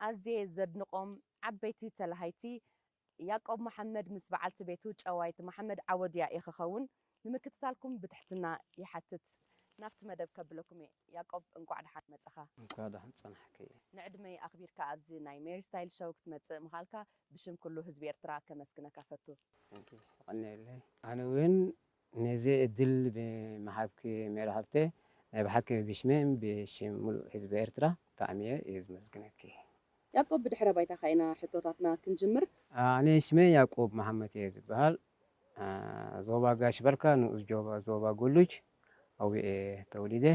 ኣዝየ ዘድንቆም ዓበይቲ ተላሃይቲ ያቆብ መሓመድ ምስ በዓልቲ ቤቱ ጨዋይት መሓመድ ዓወድ ያኢ ክከውን ንምክትታልኩም ብትሕትና ይሓትት ናብቲ መደብ ከብለኩም እየ ያቆብ እንቋዕ ደሓን መጸኻ። እንኳዕ ደሓን ፀናሕክይ። ንዕድመይ ኣኽቢርካ ኣብዚ ናይ ሜሪ ስታይል ሸው ክትመጽእ ምኻልካ ብሽም ኩሉ ህዝቢ ኤርትራ ከመስግነካ ፈቱ። ቴንኪው የቀንየለይ ኣነ ውን ነዚ ዕድል ብምሃብኪ ሜሪ ሃብተይ ናይ ብሓቂ ብሽመይን ብሽም ምሉእ ህዝቢ ኤርትራ ብጣዕሚ እየ ዝመስግነኪ። ያቆብ ብድሕረ ባይታኻ ኢና ሕቶታትና ክንጅምር። ኣነ ሽመይ ያቆብ መሃመት እየ ዝብሃል ዞባ ጋሽ ባርካ ንኡስ ዞባ ጎሉጅ ኣውየ እየ ተወሊደ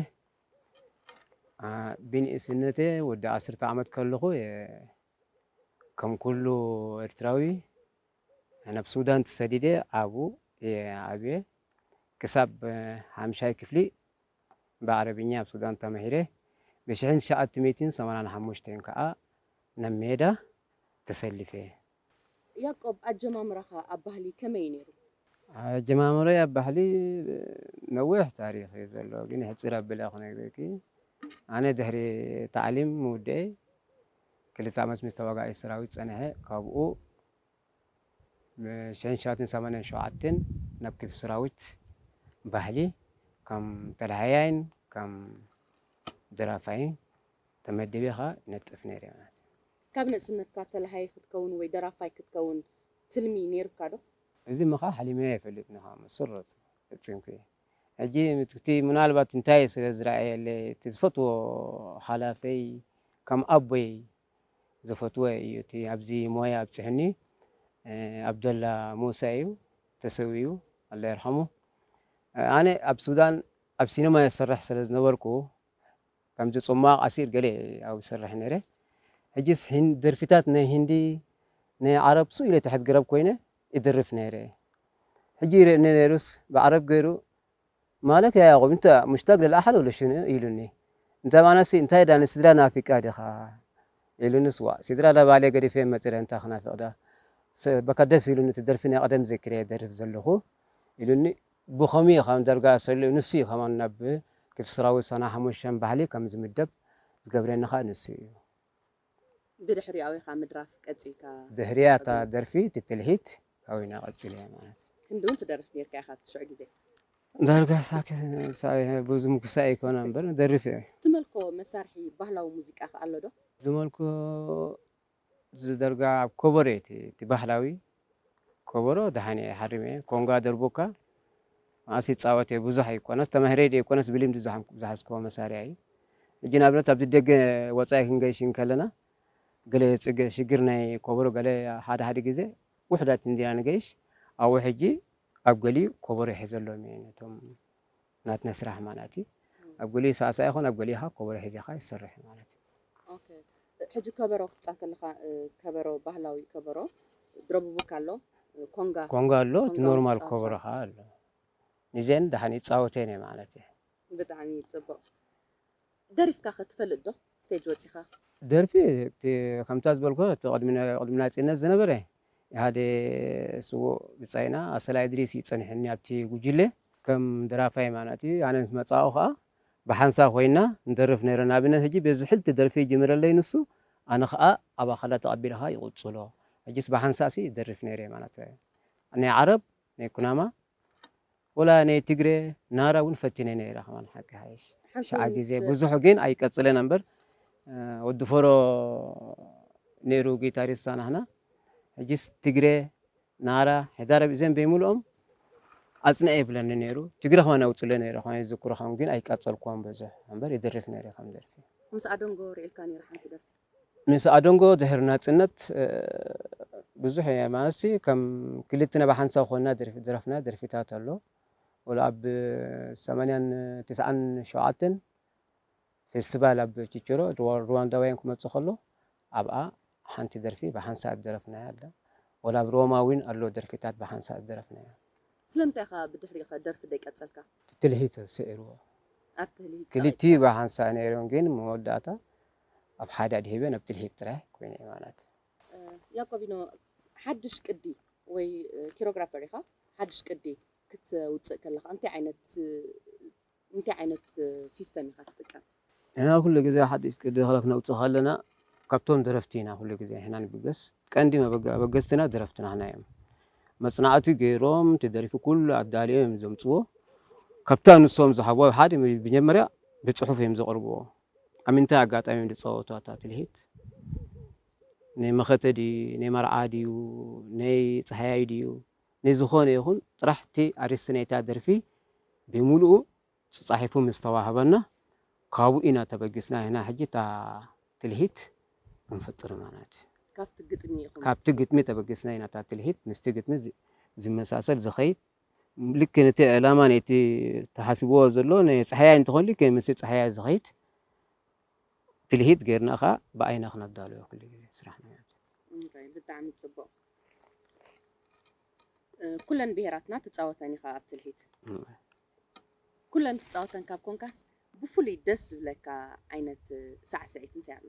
ብንእስነተ ወዲ ዓስርተ ዓመት ከለኹ እየ ከም ኩሉ ኤርትራዊ ናብ ሱዳን ተሰዲደ ኣብኡ እየ ዓብየ። ክሳብ ሓምሻይ ክፍሊ ብዓረብኛ ኣብ ሱዳን ተማሂረ። ብሽሕን ትሽዓተ ሚእትን ሰማንያን ሓሙሽተን ከኣ ናብ ሜዳ ተሰሊፈ። ያቆብ ኣጀማምራኻ ኣብ ባህሊ ከመይ እዩ ነይሩ? ኣጀማምረይ ኣብ ባህሊ ነዊሕ ታሪኽ እዩ ዘሎ ግን ሕጽር ኣቢለ ክነግረኪ። ኣነ ድሕሪ ታዕሊም ምውድኤይ ክልተ ዓመት ምስ ተዋጋኢ ሰራዊት ጸኒሐ፣ ካብኡ ብ ሽሕን ትሽዓተን ሰማንያን ሸውዓተን ናብ ክፍሊ ሰራዊት ባህሊ ከም ተላሃያይን ከም ደራፋይን ተመዲበ ከኣ ይነጥፍ ነይረ ማለት እዩ። ካብ ንእስነትካ ተላሃይ ክትከውን ወይ ደራፋይ ክትከውን ትልሚ ነይሩካ ዶ? እዚ ምኻ ሓሊመዮ ኣይፈልጥን ኢኻ ብመሰረቱ ፈጺምኩ እየ። ሕጂ ምትክቲ ምናልባት እንታይ ስለ ዝረኣየለይ እቲ ዝፈትዎ ሓላፊይ ከም ኣቦይ ዘፈትወ እዩ እቲ ኣብዚ ሞያ ኣብጽሕኒ ኣብደላ ሙሳ እዩ ተሰዊኡ ኣላ የርሓሙ ኣነ ኣብ ሱዳን ኣብ ሲነማ ይሰርሕ ስለ ዝነበርኩ ከምዚ ጽማቕ ኣሲር ገለ ኣብ ይሰርሕ ነይረ ሕጂስ ደርፊታት ናይ ሂንዲ ናይ ዓረብ ሱእ ኢለ ትሕት ግረብ ኮይነ ይድርፍ ነይረ ሕጂ ይርእየኒ ነይሩስ ብዓረብ ገይሩ ማለት ያ ያቁብ እንተ ሙሽታግ ለልኣሓል ወለ ሽኑ ኢሉኒ እንተ ኣነሲ እንታይ ዳኒ ስድራ ናፊቃ ዲኻ ኢሉንስ ዋእ ሲድራ ለባሌ ገዲፌ መጺረ እንታይ ክናፍቅዳ በካ ደስ ኢሉኒ እቲ ደርፊ ናይ ቀደም ዘኪረየ ደርፍ ዘለኹ ኢሉኒ ብኸምይ ኻም ዳርጋ ኣሰልኡ ንሱ እዩ ኻማን ናብ ክፍስራዊ ሰና ሓሙሽተ ባህሊ ከም ዝምደብ ዝገብረኒ ኻኣ ንሱ እዩ። ብድሕሪኡ ኣውይካ ምድራፍ ቀጺልካ። ድሕሪኣ እታ ደርፊ እቲ ትልሂት ኣውይና ቀጺለያ ማለት እዩ። ክንዲ ውን ትደርፍ ኔርካ ኢካ ኣብቲ ሽዑ ግዜ። ዳርጋ ሳክሳይ ብዙ ምኩሳይ ኣይኮነ እምበር እደርፍ እየ። ትመልኮ መሳርሒ ባህላዊ ሙዚቃ ከ ኣሎ ዶ? ዝመልኮ ዝደርጋ ኣብ ኮቦሮ እዩ እቲ ባህላዊ። ኮቦሮ ደሓን እየ ሓሪመ እየ ኮንጋ ደርቡካ መኣስ ይጻወት እየ ብዙሕ ኣይኮነስ ተማሂረ ድየ ኣይኮነስ ብልምዲ ዝሓዝኩዎ መሳርያ እዩ ሕጂ ንኣብነት ኣብዚ ደገ ወጻኢ ክንገይሽ እንከለና ገለ ጽገ ሽግር ናይ ኮቦሮ ገለ ሓደ ሓደ ግዜ ውሑዳት እንዲና ንገይሽ ኣብኡ ሕጂ ኣብ ገሊኡ ኮቦሮ ይሕዘሎም እየ ነቶም ናትና ስራሕ ማለት እዩ ኣብ ገሊኡ ሳዕሳዕ ይኾን ኣብ ገሊኡ ኸዓ ኮበሮ ሒዚኻ ይስርሕ እዩ ማለት እዩ። ኦኬ ሕጂ ከበሮ ክትጻት ከለኻ ከበሮ ባህላዊ ከበሮ ድረቡቡካ ኣሎ ኮንጋ ኮንጋ ኣሎ እቲ ኖርማል ኮበሮ ኸዓ ኣሎ ንዘን ደሓን ይጻወተን እየ ማለት እየ። ብጣዕሚ ጽቡቅ ደሪፍካ ከ ትፈልጥ ዶ ስቴጅ ወጺኻ? ደርፊ እቲ ከምታ ዝበልኩኻ እቲ ቅድሚ ቅድሚ ናጽነት ዝነበረ ሓደ ስዉእ ብጻይና ኣሰላ እድሪስ እዩ ጸኒሑኒ ኣብቲ ጉጅለ ከም ደራፋይ ማናቲ ኣነ ምስ መጻእኩ ከኣ ብሓንሳብ ኮይንና ንደርፍ ነይረ ንኣብነት ሕጂ በዚ ሕልቲ ደርፊ ጅምረለይ ንሱ ኣነ ከኣ ኣብ ኣኸላ ተቀቢለ ከኣ ይቅጽሎ ሕጂስ ብሓንሳእሲ እደርፍ ነይረ ማናተ ናይ ዓረብ ናይ ኩናማ ወላ ናይ ትግሬ ናራ እውን ፈቲነ ነይረ ከማን ሓቂ ሓይሽ ሽዓ ግዜ ብዙሑ ግን ኣይቀፅለን እምበር ወዲ ፈሮ ነይሩ ጊታሪስት ሳናህና ሕጂስ ትግሬ ናራ ሕዳር እዘን በይምልኦም ኣፅንዐ ይብለኒ ነይሩ ትግረ ከማን ኣውፅለ ነይረ ከማ ዝክሮ ከም ግን ኣይቀፀልኩዎም ብዙሕ እምበር ይድርፍ ነይረ ከም ደርፊ ምስ ኣዶንጎ ርኢልካ ነይረ ሓንቲ ደርፊ ምስ ኣዶንጎ ድሕሪ ናጽነት ብዙሕ እየ ማለትሲ ከም ክልትና ብሓንሳብ ኮንና ዝደረፍናዮ ደርፊታት ኣሎ ወላ ኣብ ሰማንያን ትስዓን ሸውዓተን ፌስቲቫል ኣብ ቺቸሮ ሩዋንዳውያን ክመጽእ ከሎ ኣብኣ ሓንቲ ደርፊ ብሓንሳእ ዝደረፍናያ ኣላ ወላ ኣብ ሮማ እውን ኣሎ ደርፊታት ብሓንሳእ ዝደረፍናያ። ስለምንታይ ኢኻ ብድሕሪኡኸ ደርፊ ዘይቀጸልካ? እቲ ትልሂት ስዒርዎ። ክልቲኡ ብሓንሳእ ነይሩ ግን መወዳእታ ኣብ ሓደ ኣድሂበን ኣብ ትልሂት ጥራይ ኮይነ'የ ማለት። ያቆቢኖ ሓድሽ ቅዲ ወይ ኪሮግራፐር ኢኻ ሓድሽ ቅዲ ክትውጽእ ከለኻ እንታይ ዓይነት እንታይ ዓይነት ሲስተም ኢኻ ትጥቀም? ንሕና ኩሉ ግዜ ሓድሽ ቅዲ ክነውጽእ ከለና ካብቶም ደረፍቲ ኢና ኩሉ ግዜ ንሕና ንብገስ ቀንዲ መበገ ኣበገስትና ደረፍቲ ናህና እዮም መጽናዕቲ ገይሮም እቲ ደሪፊ ኩሉ ኣዳልዮም እዮም ዘምጽዎ ካብታ ንሶም ዝሃብዎ ሓደ መጀመርያ ብጽሑፍ እዮም ዘቕርብዎ ኣብ ምንታይ ኣጋጣሚ እዮም ዝፀወቱ ኣታ ትልሂት? ናይ መኸተ ድዩ ናይ መርዓ ድዩ ናይ ፀሃያይ ድዩ ናይ ዝኾነ ይኹን ጥራሕ እቲ ኣርእስቲ ናይታ ደርፊ ብምልኡ ፀፃሒፉ ምስ ተዋህበና ካብኡ ኢና ተበጊስና ንሕና ሕጂ እታ ትልሂት ክንፍጥር ማለት ካብቲ ግጥሚ ተበጊስና ኢና እታ ትልሂት ምስቲ ግጥሚ ዝመሳሰል ዝኸይድ ልክ ነቲ ዕላማ ነቲ ተሓስብዎ ዘሎ ናይ ጸሓያይ እንተኾን ልክ ምስ ጸሓያይ ዝኸይድ ትልሂት ጌርና ኸኣ ብኣይና ክነዳልዮ ኩሉ ግዜ ስራሕና እንራይ ብጣዕሚ ጽቡቕ ኩለን ብሄራትና ትጻወተን ኢኻ ኣብ ትልሂት ኩለን ትጻወተን ካብ ኮንካስ ብፍሉይ ደስ ዝብለካ ዓይነት ሳዕስዒት እንታይ ኣሎ?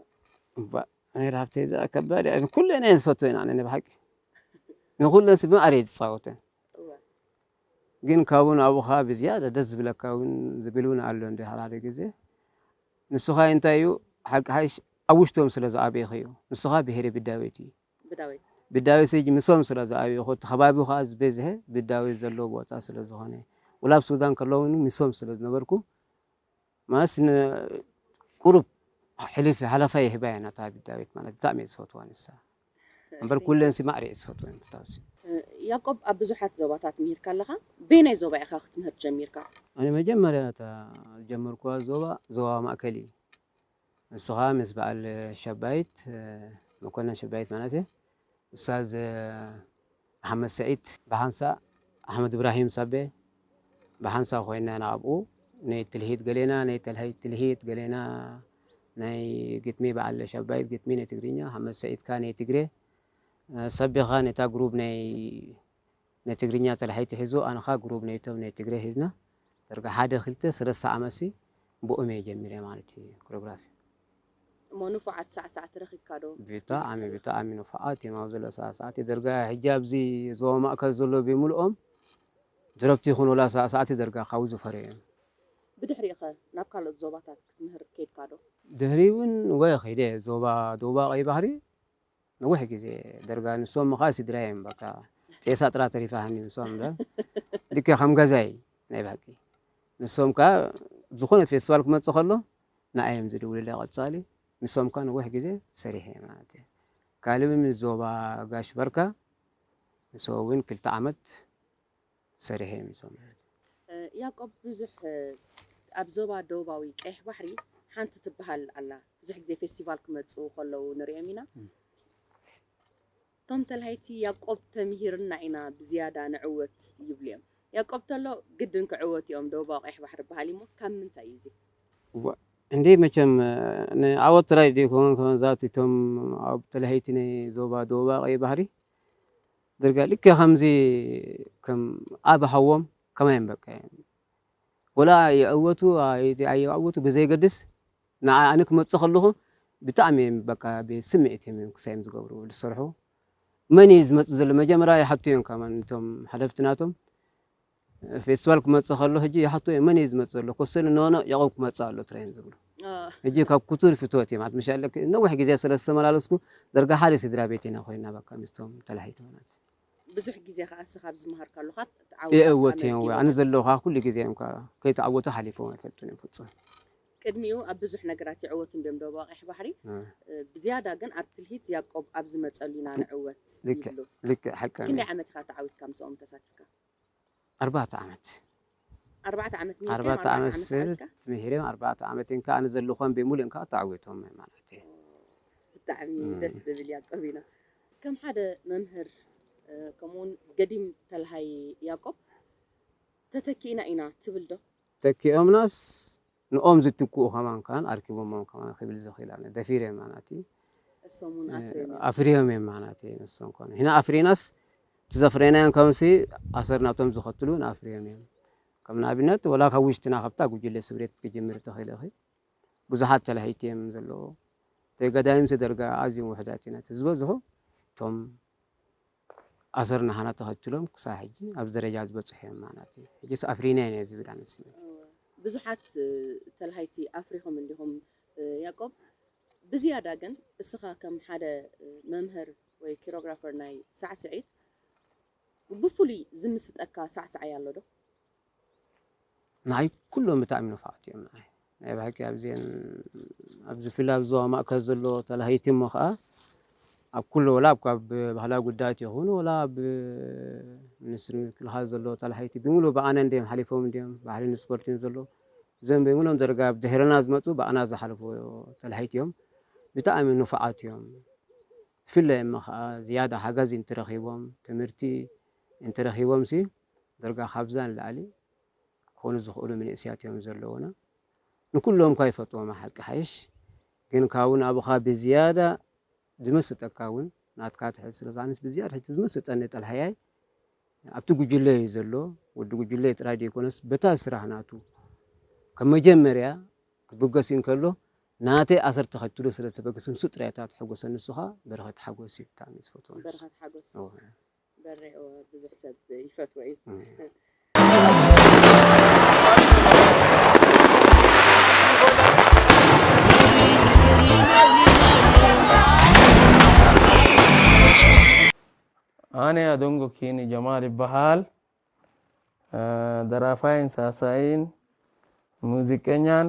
ኣሚር ሃብተይ እዚኣ ከባድ እያ ኩለን እየን ዝፈትወን ኣነ ናይ ብሓቂ ንኩለን ሲ ብማዕረ እየ ዝፃወተን ግን ካብኡ ናብኡ ከዓ ብዝያዳ ደስ ዝብለካ እውን ዝብል እውን ኣሎ እንዲ ሓደ ግዜ ንሱኻ እንታይ እዩ ሓቂ ሓይሽ ኣብ ውሽቶም ስለ ዝኣበይኽ እዩ ንሱኻ ብሄረ ብዳዊት እዩ ብዳዊት ስጅ ምሶም ስለ ዝኣበይኹ እቲ ከባቢ ከዓ ዝበዝሐ ብዳዊት ዘለዎ ቦታ ስለ ዝኾነ ውላ ኣብ ሱዳን ከለውን ምሶም ስለ ዝነበርኩ ማስ ን ቁሩብ ሕልፍ ሃለፋ ይህባ እየ ናታ ዳዊት ማለት ብጣዕሚ እየ ዝፈትዋ ንሳ እምበር ኩለን ሲ ማዕረ እየ ዝፈትወን ፍታው ሲ። ያቆብ ኣብ ብዙሓት ዞባታት ምሂርካ ኣለኻ በየናይ ዞባ ኢኻ ክትምህር ጀሚርካ? ኣነ መጀመርያ እታ ዝጀመርክዋ ዞባ ዞባ ማእከል እዩ ንሱ ኸኣ ምስ በዓል ሸባይት መኮነን ሸባይት ማለት እየ። ኡስታዝ መሓመድ ስዒድ ብሓንሳእ ኣሕመድ እብራሂም ሳቤ ብሓንሳእ ኮይና ንኣብኡ ናይ ትልሂት ገሌና ናይ ተልሂት ትልሂት ገሌና ናይ ግጥሚ በዓል ሻባይት ግጥሚ ናይ ትግርኛ ሓመድ ስዒድካ ናይ ትግሬ ሳቤኻ ነታ ግሩብ ናይ ናይ ትግርኛ ጸላሒቲ ሒዙ ኣንኻ ግሩብ ነይቶም ናይ ትግሬ ሒዝና ደርጋ ሓደ ክልተ ስለስተ ዓመትሲ ብኡም እየ ጀሚረ ማለት እዩ ኮርዮግራፊ። እሞ ንፉዓት ሳዕሳዕቲ ረኺብካ ዶ? ብጣዕሚ ብጣዕሚ ንፉዓት እዮም ኣብዚ ዘሎ ሳዕሳዕቲ ደርጋ ሕጂ ኣብዚ ዞባ ማእከል ዘሎ ብምልኦም ድረፍቲ ይኹን ወላ ሳዕሳዕቲ ደርጋ ካብኡ ዝፈርዩ እዮም። ብድሕሪኡ'ኸ ናብ ካልኦት ዞባታት ክትምህር ከይድካ ዶ? ድሕሪኡ ውን ወ ኺደ ዞባ ደቡባዊ ቀይሕ ባሕሪ ነዊሕ ግዜ ደርጋ ንሶም እካ ስድራ እዮም በቃ ጤሳ ጥራ ተሪፋሃኒ ንሶም እምበር ልክዕ ከም ገዛይ ናይ ባቂ ንሶም ከኣ ዝኾነ ፌስቲቫል ክመጽእ ከሎ ንኣይ እዮም ዝድውልለ ቀጻሊ ንሶም ከኣ ነዊሕ ግዜ ሰሪሐ እየ ማለት እዩ ካልእ ዞባ ጋሽ በርካ ንሶ እውን ክልተ ዓመት ሰሪሐ እየ ምስ በሉ። ያቆብ ብዙሕ ኣብ ዞባ ደቡባዊ ቀይሕ ባሕሪ ሓንቲ ትብሃል ኣላ ብዙሕ ግዜ ፌስቲቫል ክመጽኡ ከለዉ ንርእዮም ኢና እቶም ተላሃይቲ ያቆብ ተምሂርና ኢና ብዝያዳ ንዕወት ይብሉ እዮም ያቆብ ተሎ ግድን ክዕወቱ እዮም ደቡባዊ ቀይሕ ባሕሪ በሃሊ እሞ ካብ ምንታይ እዩ እዚ እዋእ እንዴ መቸም ንዓወት ጥራይ ዘይኮነ ከመዛት እቶም ኣብ ተላሃይቲ ናይ ዞባ ደቡባዊ ቀይሕ ባሕሪ ድርጋ ልክዕ ከምዚ ከም ኣብ ሃዎም ከማይ በቃ ወላ ይዕወቱ ኣይዕወቱ ብዘይገድስ ንዓ ኣነ ክመጽእ ከለኹ ብጣዕሚ እዮም በቃ ብስምዒት እዮም ክሳይ እዮም ዝገብሩ ዝሰርሑ መን እዩ ዝመጽእ ዘሎ መጀመርያ ይሓቱ እዮም ከማን እቶም ሓለፍቲ ናቶም ፌስቲቫል ክመጽእ ከሎ ሕጂ ይሓቶ እዮም መን እዩ ዝመጽእ ዘሎ ኮሰሉ ኖኖ ያቆብ ክመጽእ ኣሎ ጥራይ እዮም ዝብሉ ሕጂ ካብ ኩቱር ፍትወት እዮም ኣትምሻ ኣለክ ነዊሕ ግዜ ስለ ዝተመላለስኩ ደርጋ ሓደ ስድራ ቤት ኢና ኮይና በቃ ምስቶም ተላሒተና ብዙሕ ግዜ ከዓ እሰ ካብ ዝመሃር ካሉካ የእወት እዮም ወይ ኣነ ዘለዉ ከዓ ኩሉ ግዜ እዮም ከዓ ከይተዓወቱ ሓሊፎም ኣይፈልጡን እዮም ፍጹም ቅድሚኡ ኣብ ብዙሕ ነገራት ይዕወት እንዲዮም ዶብ ቀይሕ ባሕሪ ብዝያዳ ግን ኣብ ትልሂት ያቆብ ኣብ ዝመፀሉ ኢና ንዕወት ይብሉ ልክዕ ሓቂ ክንደይ ዓመት ኢካ ተዓዊትካ ምስኦም ተሳቲፍካ ኣርባዕተ ዓመት ኣርባዕተ ዓመት ምሂርካ ኣርባዕተ ዓመት ስርት ምሂረ ኣርባዕተ ዓመት እንካ ኣነ ዘለኾን ብሙሉእ እንካ ተዓዊቶም ማለት እዩ። ብጣዕሚ ደስ ዝብል ያቆቢና ከም ሓደ መምህር ከምኡውን ገዲም ተልሃይ ያቆብ ተተኪእና ኢና ትብል ዶ? ተኪኦምናስ ንኦም ዝትክኡ ከማን ከማን ኣርኪቦሞም ከማን ክብል ዝኽእል ኣነ ደፊረ ማናቲ ኣፍርዮም እዮም ማናቲ ንሶም ኮኑ ሕና ኣፍሪናስ ትዘፍሬናያን ከምሲ ኣሰር ናቶም ዝኸትሉ ንኣፍርዮም እዮም ከም ንኣብነት ወላ ካብ ውሽጥና ካብታ ጉጅለ ስብሬት ክጅምር ተኽእል እኺ ብዙሓት ተላሂቲ እዮም ዘለዎ ተገዳይም ተደርጋ ኣዝዮም ውሕዳት ኢና ዝበዝሑ እቶም ኣሰር ናህና ተኸትሎም ክሳብ ሕጂ ኣብዚ ደረጃ ዝበጽሑ እዮም ማለት እዩ። ሕጂስ ኣፍሪና ኢና ዝብል ኣነ ስምዒት። ብዙሓት ተላሃይቲ ኣፍሪኹም እንዲኹም ያቆብ፣ ብዝያዳ ግን እስኻ ከም ሓደ መምህር ወይ ኪሮግራፈር ናይ ሳዕስዒት ብፍሉይ ዝምስጠካ ሳዕሳዓይ ኣሎ ዶ? ንዓይ ኩሎም ብጣዕሚ ንፉዓት እዮም ንዓይ ናይ ብሓቂ ኣብዘን ኣብዚ ፍል ኣብ ዞባ ማእከል ዘሎ ተላሃይቲ እሞ ከዓ ኣብ ኩሉ ወላ ኣብ ባህላዊ ጉዳያት ይኹን ወላ ኣብ ሚኒስትሪ ምክልኻል ዘሎ ተላሃይቲ ብምሉ ብኣነ እንዲም ሓሊፎም እንዲም ባህልን ስፖርትን ዘሎ እዞም ብምሎም ደረጋ ኣብ ድሕርና ዝመፁ ብኣና ዝሓለፉ ተላሃይቲ እዮም ብጣዕሚ ንፉዓት እዮም ብፍላይ እሞ ከዓ ዝያዳ ሓጋዚ እንትረኪቦም ትምህርቲ እንትረኪቦም ሲ ድርጋ ካብዛ ንላዕሊ ክኮኑ ዝክእሉ ምንእስያት እዮም ዘለውና ንኩሎም እኳ ይፈትዎም ሓቂ ሓይሽ ግን ካብን ኣብካ ብዝያዳ ዝመስጠካ እውን ናትካ ትሕት ስለ ኣነስ ብዝያድ ሕቲ ዝመስጠኒ ጠልሃያይ ኣብቲ ጉጅለ እዩ ዘሎ ወዲ ጉጅለ ጥራይ ዘይኮነስ በታ ስራሕ ናቱ ከም መጀመርያ ክብገስ እንከሎ ናተይ ኣሰር ተኸትሎ ስለ ተበገሰ ንሱ ጥራይ እታ ትሕጎሰ ንሱኻ በረኸት ሓጎስ እዩ ብጣዕሚ ዝፈትዎ በረኸት ሓጎስ ብዙሕ ሰብ ይፈትዎ እዩ። ኣነ ኣዶንጎ ኪኒ ጀማል ይበሃል ደራፋይን ሳሳይን ሙዚቀኛን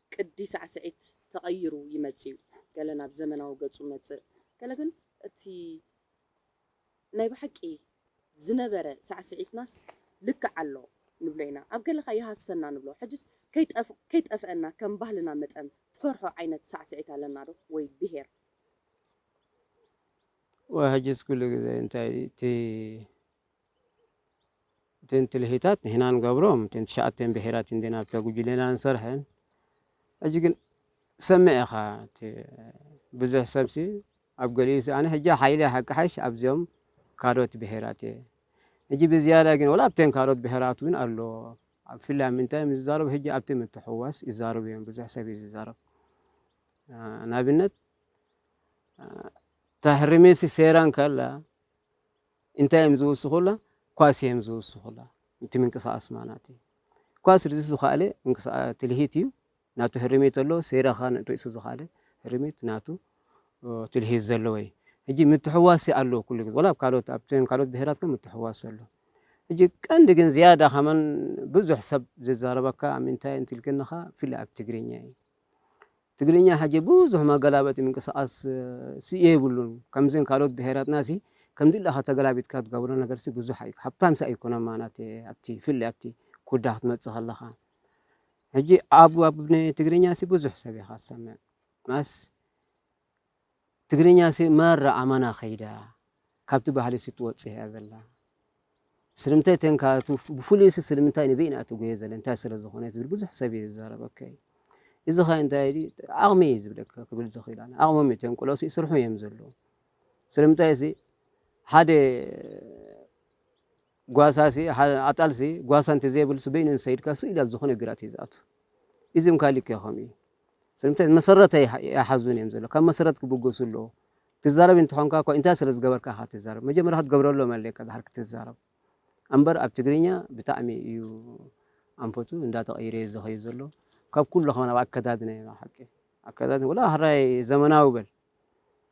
ቅዲ ሳዕስዒት ተቐይሩ ይመጽእ'ዩ፣ ገለ ናብ ዘመናዊ ገጹ መጽእ፣ ገለ ግን እቲ ናይ ብሓቂ ዝነበረ ሳዕስዒትናስ ልክዕ ኣሎ ንብሎ ኢና፣ ኣብ ገለኻ ይሃስሰና ንብሎ፣ ሕጅስ ከይጠፍኣና ከም ባህልና መጠን ትፈርሖ ዓይነት ሳዕስዒት ኣለና'ዶ ወይ ብሄር? ወይ ሕጅስ ኩሉ ግዜ እንታይ'ቲ እተን ትልሂታት ንሕና ንገብሮም እተን ትሽዓተን ብሔራት እንድን ኣብታ ጉጅሌና ንሰርሐን ሕጂ ግን ሰምዕ ኢኻ እቲ ብዙሕ ሰብሲ ኣብ ገሊኡ ኣነ ሕጂ ሓይሊ ሓቂ ሓይሽ ኣብዚኦም ካልኦት ብሔራት እየ ሕጂ ብዝያዳ ግን ወላ ኣብተን ካልኦት ብሔራት እውን ኣሎ ብፍላይ ምንታይ እዮም ዝዛረቡ ሕጂ ኣብቲ ምትሕዋስ ይዛረቡ እዮም ብዙሕ ሰብ እዩ ዝዛረብ ንኣብነት ታሕርሜሲ ሴራን ከላ እንታይ እዮም ዝውስኹላ? ኳስ እዮም ዝውስኹላ። እቲ ምንቅስቓስ ማናት እዩ። ኳስ ርእሲ ዝኸኣለ ትልሂት እዩ። ናቱ ህርሚት ኣሎ። ሴራ ኸ ርእሱ ዝኸኣለ ህርሚት ናቱ ትልሂት ዘለዎ እዩ። ሕጂ ምትሕዋስ ኣሎ ኩሉ ግዜ ወላ ኣብ ካልኦት ኣብተን ካልኦት ብሄራት ከ ምትሕዋስ ኣሎ። ሕጂ ቀንዲ ግን ዝያዳ ከመን ብዙሕ ሰብ ዝዛረበካ ኣብ ምንታይ እንትልክንኻ ብፍላይ ኣብ ትግርኛ እዩ። ትግርኛ ሕጂ ብዙሕ መገላበጢ ምንቅስቃስ ሲ የብሉን ከምዘን ካልኦት ብሄራትና ሲ ከምድላካ ተገላቢጥካ ትገብሮ ነገር ሲ ብዙሕ ኣዩ ሃብታም ሲ ኣይኮነን ማናት ኣብቲ ብፍላይ ኣብቲ ኩዳ ክትመጽእ ከለካ ሕጂ ኣብ ኣብ ትግርኛ ሲ ብዙሕ ሰብ ኢካ ትሰምዕ ማስ ትግርኛሲ ማራ ኣማና ከይዳ ካብቲ ባህሊሲ ትወጽእ እያ ዘላ ስለምንታይ ተንካ እቲ ብፍሉይሲ ስለምንታይ ንበይና ትጎየ ዘለ እንታይ ስለ ዝኾነ ዝብል ብዙሕ ሰብ እዩ ዝዛረብ ኦኬ እዚ ከ እንታይ ድዩ ዓቕሚ እዩ ዝብለካ ክብል ዝኽእል ኣነ ዓቕሞም እዩ ተንቅሎሲ ይስርሑ እዮም ዘለዉ ስለምንታይ እዚ ሓደ ጓሳሲ ኣጣልሲ ጓሳ እንተ ዘይብልሲ በይኑ እንሰይድካ ስኡ ኢሉ ኣብ ዝኾነ ግራት እዩ ዝኣቱ ኢዚም ካሊእ ከይኾኑ እዩ ስለምንታይ መሰረት ኣይሓዙን እዮም ዘሎ ካብ መሰረት ክብገሱ ኣለዎ ትዛረብ እንተኾንካ እኳ እንታይ ስለ ዝገበርካ ኢኻ ትዛረብ መጀመርያ ክትገብረሎም ኣለካ ድሓር ክትዛረብ እምበር ኣብ ትግርኛ ብጣዕሚ እዩ ኣንፈቱ እንዳተቐይረ እዩ ዝኸዩ ዘሎ ካብ ኩሉ ከማን ኣብ ኣከዳድና እዩ ሓቂ ኣከዳድና ወላ ሃራይ ዘመናዊ በል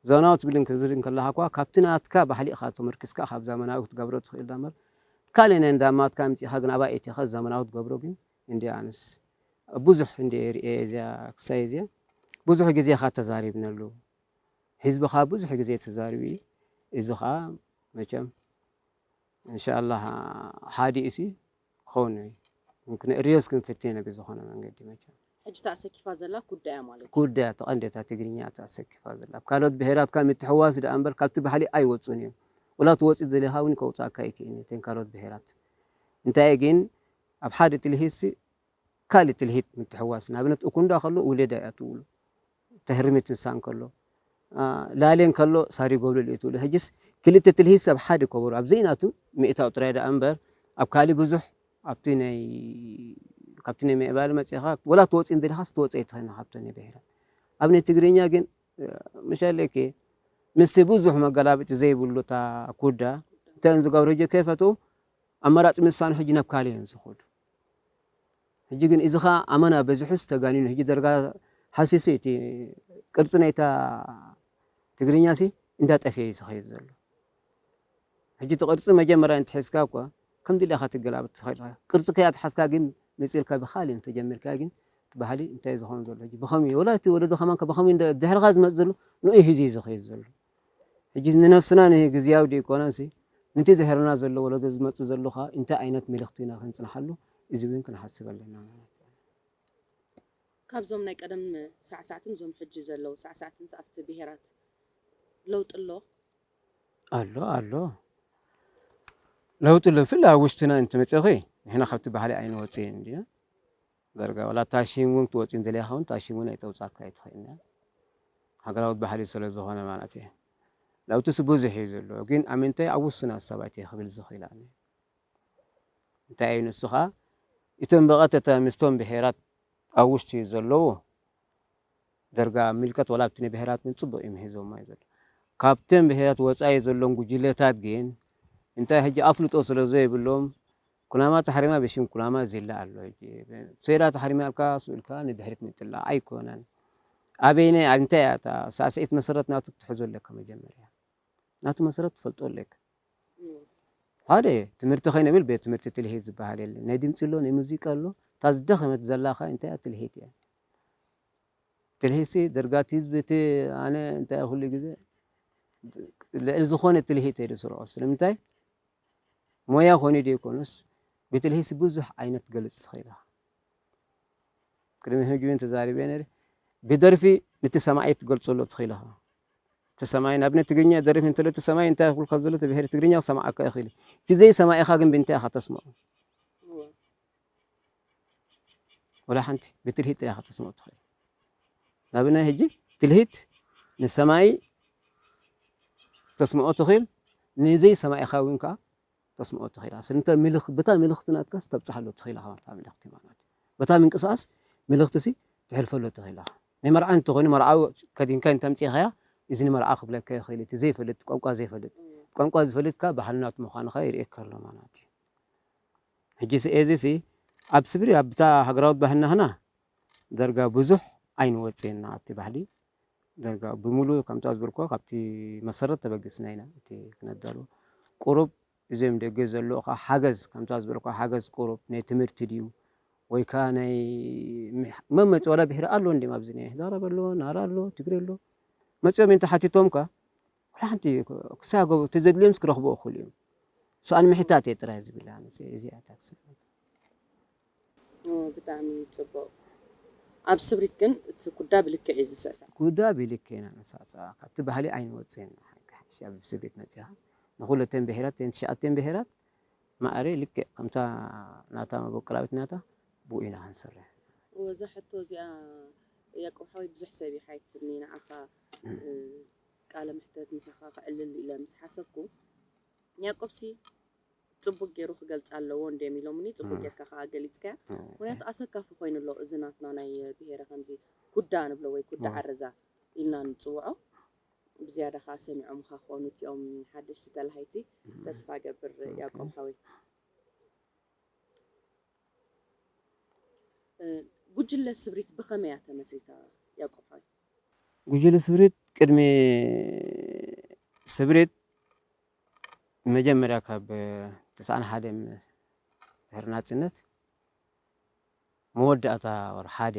ዞናዊ ትግልን ክትብል እንከለኻኳ ካብቲ ናትካ ባህሊ ኢኻ ተመርኪስካ ካብ ዛመናዊ ክትገብሮ ትኽእል ዳምበር ካልእ ናይ እንዳማትካ ኣምጺኻ ግን ኣባይ ኤቲኻ ዛመናዊ ክትገብሮ ግን እንድያ ኣነስ ኣብ ብዙሕ እንድየ ርእየ እዚያ ክሳይ እዚያ ብዙሕ ግዜ እኻ ተዛሪብነሉ ህዝቢ ኻኣ ብዙሕ ግዜ ተዛሪቡ እዩ እዚ ኻኣ መቸም እንሻላህ ሓዲኡሲ ክኸውን እዩ ክንእርዮስ ክንፍትነ ብዝኾነ መንገዲ መቸም። ሕጂ እታ ኣሰኪፋ ዘላ ኩዳ እያ ማለት እዩ። ኩዳ እያ እቲ ቀንዲ እታ ትግርኛ እታ ኣሰኪፋ ዘላ ኣብ ካልኦት ብሄራት ካብ ምትሕውዋስ ደኣ እምበር ካብቲ ባህሊ ኣይወጹን እዮም ወላ እቲ ወጽኢት ዝደለኻ እውን ከውጽኣካ ኣይክእልን እዩ እተን ካልኦት ብሄራት እንታይ ግን ኣብ ሓደ ትልሂትሲ ካልእ ትልሂት ምትሕዋስ ንኣብነት ኡኩንዳ ከሎ ኡሌዳ እያ ትብሉ ተህርሚ ትንሳእ እንከሎ ላሌ እንከሎ ሳሪ ጎብለል እዩ ትብሉ ሕጅስ ክልተ ትልሂት ሰብ ሓደ ከበሩ ኣብ ዘይናቱ ምእታው ጥራይ ደኣ እምበር ኣብ ካልእ ብዙሕ ኣብቲ ናይ ካብቲ ናይ ምዕባለ መጽኻ ወላ ትወጽእ እንተደኻስ ትወጽእ ኣይትኸን ካብቶ ናይ ብሔራት ኣብ ናይ ትግርኛ ግን ምሻለከ ምስቲ ብዙሕ መገላብጢ ዘይብሉ እታ ኩዳ እተን ዝገብረ ጆ ከይፈትኡ ኣማራጺ ምሳኑ ሕጂ ናብ ካልእ እዮም ዝኸዱ ሕጂ ግን ኢዚ ከኣ ኣመና በዚሑስ ተጋኒኑ ሕጂ ደርጋ ሃሲሱ ኢቲ ቅርጺ ናይታ ትግርኛሲ እንዳ ጠፍኤ ኢዩ ዝኸይድ ዘሎ ሕጂ እቲ ቅርጺ መጀመርያ እንተሒዝካ እኳ ከም ድሌኻ ትገላብጥ ትኸእል ኢኻ ቅርጺ ከይ ኣትሓዝካ ግን መጺእልካ ብኻልእ እንተጀሚርካ ግን እቲ ባህሊ እንታይ ዝኸውን ዘሎ ሕጂ ብኸምይ ወላ እቲ ወለዶ ከማን ብኸምይ ድሕርኻ ዝመጽእ ዘሎ ንኡ ሒዙ ኢዩ ዝኸይድ ዘሎ ሕጂ ንነፍስና ንሂ ግዝያዊ ደይኮነንሲ ንቲ ድህርና ዘሎ ወለዶ ዝመጽእ ዘሎ ከኣ ኢንታይ ኣይነት መልኽቲ ኢና ክንጽንሓሉ እዚ ዊን ክንሓስብ ኣለና ማለት ዩ። ካብዞም ናይ ቀደም ሳዕሳዕትን እዞም ሕጂ ዘለው ሳዕሳዕትንስ ኣብቲ ብሄራት ለውጢ ኣሎ? ኣሎ ኣሎ ለውጢ ኣሎ ብፍላይ ኣብ ውሽጥና እንተመጺኺ ንሕና ካብቲ ባህሊ ኣይንወጽእን እንዲና። ዳርጋ ዋላ ታሽን ውን ክትወጺ እንተልያ ከውን ታሽን ውን ኣይተውጻካ ኣይትክእልን እያ ሃገራዊ ባህሊ ሰለ ዝኮነ ማለት እየ ለውትስ ብዙሕ እዩ ዘሎ ግን ኣብ ምንታይ ኣብ ውሱናት ሰባት እየ ክብል ዝክእል ኣነ እንታይ እዩ ንሱ ከኣ እቶም ብቐጥታ ምስቶም ብሄራት ኣብ ውሽጢ ዘለዉ ደርጋ ምልከት ወላ ኣብቲ ንብሄራት ውን ጽቡቅ እዩ ምሂዞማ እዩ ዘሎ ካብተን ብሄራት ወጻኢ ዘሎን ጉጅለታት ግን እንታይ ሕጂ ኣፍልጦ ስለ ዘይብሎም ኩናማ ተሓሪማ ብሽም ኩናማ ዜላ ኣሎ ሕጂ ሴራ ተሓሪማልካ ስብ ኢልካ ንድሕሪት ምጥላቅ ኣይኮነን ኣበይናይ ኣንታይ እያ እታ ሳዕስዒት መሰረት ናቱ ክትሕዞ ኣለካ መጀመርያ ናቱ መሰረት ትፈልጦ ኣለካ ሓደ ትምህርቲ ከይንብል ቤት ትምህርቲ ትልሂት ዝበሃል የለን ናይ ድምፂ ኣሎ ናይ ሙዚቃ ኣሎ እታ ዝደኸመት ዘላካ እንታይ እያ ትልሂት እያ ትልሂትሲ ደርጋቲ ህዝቢ እቲ ኣነ እንታይ ኩሉ ግዜ ልዕሊ ዝኾነ ትልሂት እየ ዝስርዖ ስለምንታይ ሞያ ኮይኑ ዘይኮኑስ ብትልሂስ ብዙሕ ዓይነት ክትገልጽ ትኽእል ኢኻ። ቅድሚ ሕጂ እውን ተዛሪበ ነይረ። ብደርፊ ነቲ ሰማዒ ክትገልጸሉ ትኽእል ኢኻ። እቲ ሰማዒ ንኣብነት ትግርኛ ዝደርፍ እንተሎ እቲ ሰማዒ እንታይ ክብልካ ዘሎ እቲ ብሄር ትግርኛ ክሰምዓካ ይኽእል እዩ። እቲ ዘይሰማዒኻ ግን ብምንታይ ኢኻ ተስምዖ? ወላ ሓንቲ ብትልሂት ጥራይ ኢኻ ከተስምዖ እትኽእል። ናብናይ ሕጂ ትልሂት ንሰማይ ተስምዖ ትኽእል ንዘይ ሰማይኻ እውን ከኣ ተስምዖ ትኽእል። ስለምንታይ ምልኽ በታ ምልኽቲ ናትካስ ተብጽሓሉ ትኽእል ኢኻ በታ ምልኽቲ ማለት በታ ምንቅስቓስ ምልኽቲሲ ትሕልፈሉ ትኽእል ኢኻ። ናይ መርዓ እንተኾይኑ መርዓዊ ከዲንካ እንተምጺእኻያ እዚ ንመርዓ ክብለካ ይኽእል እቲ ዘይፈልጥ ቋንቋ ዘይፈልጥ ቋንቋ ዝፈልጥካ ባህልናቱ ምዃንኻ ይርእየካ ኣሎ ማለት እዩ። ሕጂሲ ኤዚሲ ኣብ ስብሪ ኣብታ ሃገራዊት ባህልና ኽና ደርጋ ብዙሕ ኣይንወጽ እና ኣብቲ ባህሊ ደርጋ ብምሉ ከምታ ዝበልኩ ካብቲ መሰረት ተበግስና ኢና እቲ ክነዳሉ ቁሩብ እዞም ደገ ዘለዉ ከ ሓገዝ ከምታ ዝበልኩ ሓገዝ ቁሩብ ናይ ትምህርቲ ድዩ ወይ ከ ናይ መመጽ ወላ ብሕሪ ኣሎ እንዲም ኣብዚ ናይ ህዳር ኣሎ ናራ ኣሎ ትግሪ ኣሎ መጽኦም እንተ ሓቲቶምካ ዋላ ሓንቲ ክሳገቡ እቲ ዘድልዮምስ ክረኽቡ እኹል እዮም ሰኣን ምሕታት እየ ጥራይ ዝብል ኣነሰ እዚኣ እታ ክሳገቡ ብጣዕሚ ጽቡቅ ኣብ ስብሪት ግን እቲ ኩዳ ብልክዕ እዩ ዝስዕሳዕ ኩዳ ብልክዕ ኢና ንሳዕስዓ ካብቲ ባህሊ ኣይንወጽእን ሓቂ ኣብ ስብሪት መጺኻ ንኹለተን ብሄራት ተን ትሽዓተን ብሄራት ማዕረ ልክዕ ከምታ ናታ መበቆላዊት ናታ ብኡ ኢና ክንሰርሕ ወዛ ሕቶ እዚኣ ያቆብ ሓወይ ብዙሕ ሰብ ይሓይትኒ ንዓኻ ቃለ መሕተት ምሳኻ ከዕልል ኢለ ምስ ሓሰብኩ ንያቆብሲ ጽቡቅ ጌሩ ክገልጻ ኣለዎ እንድዮም ኢሎሙኒ ጽቡቅ ጌርካ ከኣ ገሊጽካያ ምክንያቱ ኣሰካፊ ኮይኑ ኣሎ እዚ ናትና ናይ ብሄረ ከምዚ ኩዳ ንብሎ ወይ ኩዳ ዓረዛ ኢልና ንጽውዖ ብዝያዳ ከኣ ሰሚዖምኻ ክኾኑ እቲኦም ሓደሽቲ ተላሃይቲ ተስፋ እገብር ያቆብ ሓወይ ጉጅለ ስብሪት ብኸመይ እያ ተመስሪታ ያቆብ ሓወይ ጉጅለ ስምሪት ቅድሚ ስምሪት መጀመርያ ካብ ተስዓን ሓደን ድሕሪ ናጽነት መወዳእታ ወር ሓደ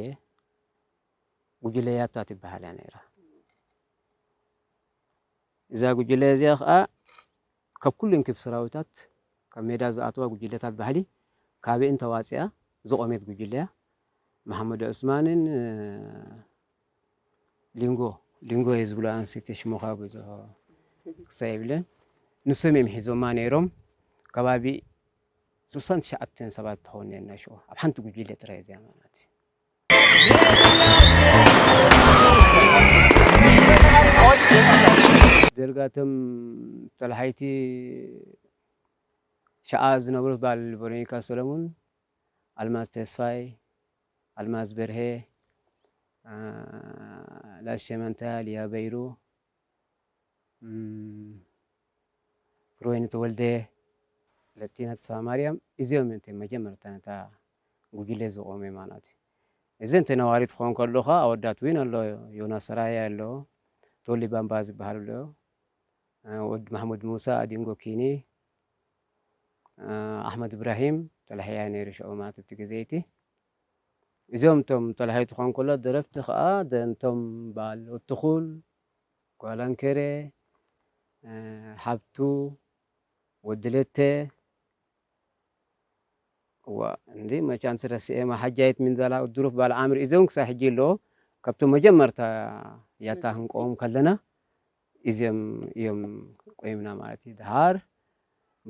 ጉጅለ ያታ ትበሃል እያ ነይራ። እዛ ጉጅለ እዚኣ ከዓ ካብ ኩለን ክብ ሰራዊታት ካብ ሜዳ ዝኣተዋ ጉጅለታት ባህሊ ካበኤን ተዋጺኣ ዝቖሜት ጉጅለ እያ። መሓመድ ዑስማንን ሊንጎ ሊንጎ እየ ዝብላ ኣንሰይቲ ሽሞኻ ብዙሕ ክሳ የብለን ንሶም እዮም ሒዞማ ነይሮም ከባቢ ስልሳን ትሽዓተን ሰባት ትኸውን ነርና ሽዑ ኣብ ሓንቲ ጉጅለ ጥራይ እዚኣ ማለት እዩ። ደርጋቶም ጠላሓይቲ ሸኣ ዝነብሩ ባል ቨሮኒካ ሰለሙን፣ ኣልማዝ ተስፋይ፣ ኣልማዝ በርሄ፣ ላሽ ሸመንታ፣ ሊያ በይሩ፣ ፍሬወይኒ ተወልደ፣ ለቲና ተስፋማርያም እዚኦም እዮም እቲ መጀመርታ ነታ ጉጅለ ዝቖመ ማለት እዩ። እዚ እንተ ነዋሪ ትኸውን ከሎኻ ኣወዳት እውን ኣሎ ዮናስ ሰራየ ኣሎ ቶሊ ባምባ ዝበሃል ኣሎ ወዲ ማሕሙድ ሙሳ ኣዲንጎ ኪኒ ኣሕመድ እብራሂም ተላሕያ ነይሩ ሽዑ ማለት እቲ ግዜ እቲ እዞም እቶም ጠላሒት ኾንኩሎ ደረፍቲ ከኣ እቶም ባል ኡቱኹል፣ ጓል ኣንከሬ፣ ሓብቱ፣ ወዲ ለተ እዋእ እንዲ መቻን ስረስኤ ማሓጃይት ሚንዛላ ኡድሩፍ ባል ዓምሪ እዞም ክሳብ ሕጂ ኣለዎ ካብቶም መጀመርታ ያታ ክንቆም ከለና እዚኦም እዮም ቆይምና ማለት እዩ። ድሓር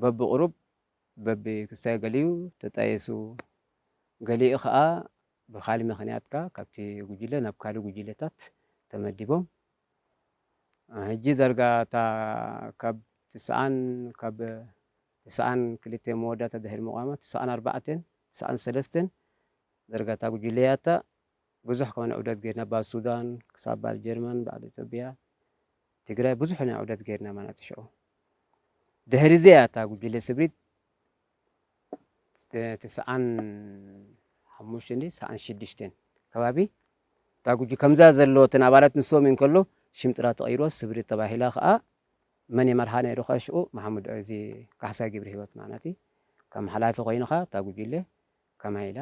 በብቕሩብ በቢ ክሳይ ገሊኡ ተጣይሱ፣ ገሊኡ ከኣ ብካልእ ምክንያት ከኣ ካብቲ ጉጅለ ናብ ካልእ ጉጅለታት ተመዲቦም ሕጂ ዳርጋ እታ ካብ ትስዓን ካብ ትስዓን ክልተ መወዳእታ ድሕሪ ምቛማ ትስዓን ኣርባዕተን ትስዓን ሰለስተን ዳርጋ እታ ጉጅለ ያታ ብዙሕ ኮነ ዑደት ጌርና ባብ ሱዳን ክሳብ ባብ ጀርመን ባብ ኢትዮጵያ ትግራይ ብዙሕ ኢና ዑደት ጌርና ማናት ሸዑ ድሕሪ እዚ እያ እታ ጉጅለ ስብሪት ትስዓን ሓሙሽተን ድዩ ትስዓን ሽዱሽተን ከባቢ እታ ጉጅ ከምዛ ዘለወትን ኣባላት ንሶም እዩን ከሎ ሽም ጥራ ተቐይሮ ስብሪ ተባሂላ ከዓ መን የመርሓ ነይሩ ከ ሽኡ መሓሙድ እዚ ካሕሳይ ግብሪ ህይወት ማለት እዩ ከም ሓላፊ ኮይኑ ከዓ እታ ጉጅለ ከማይ ኢላ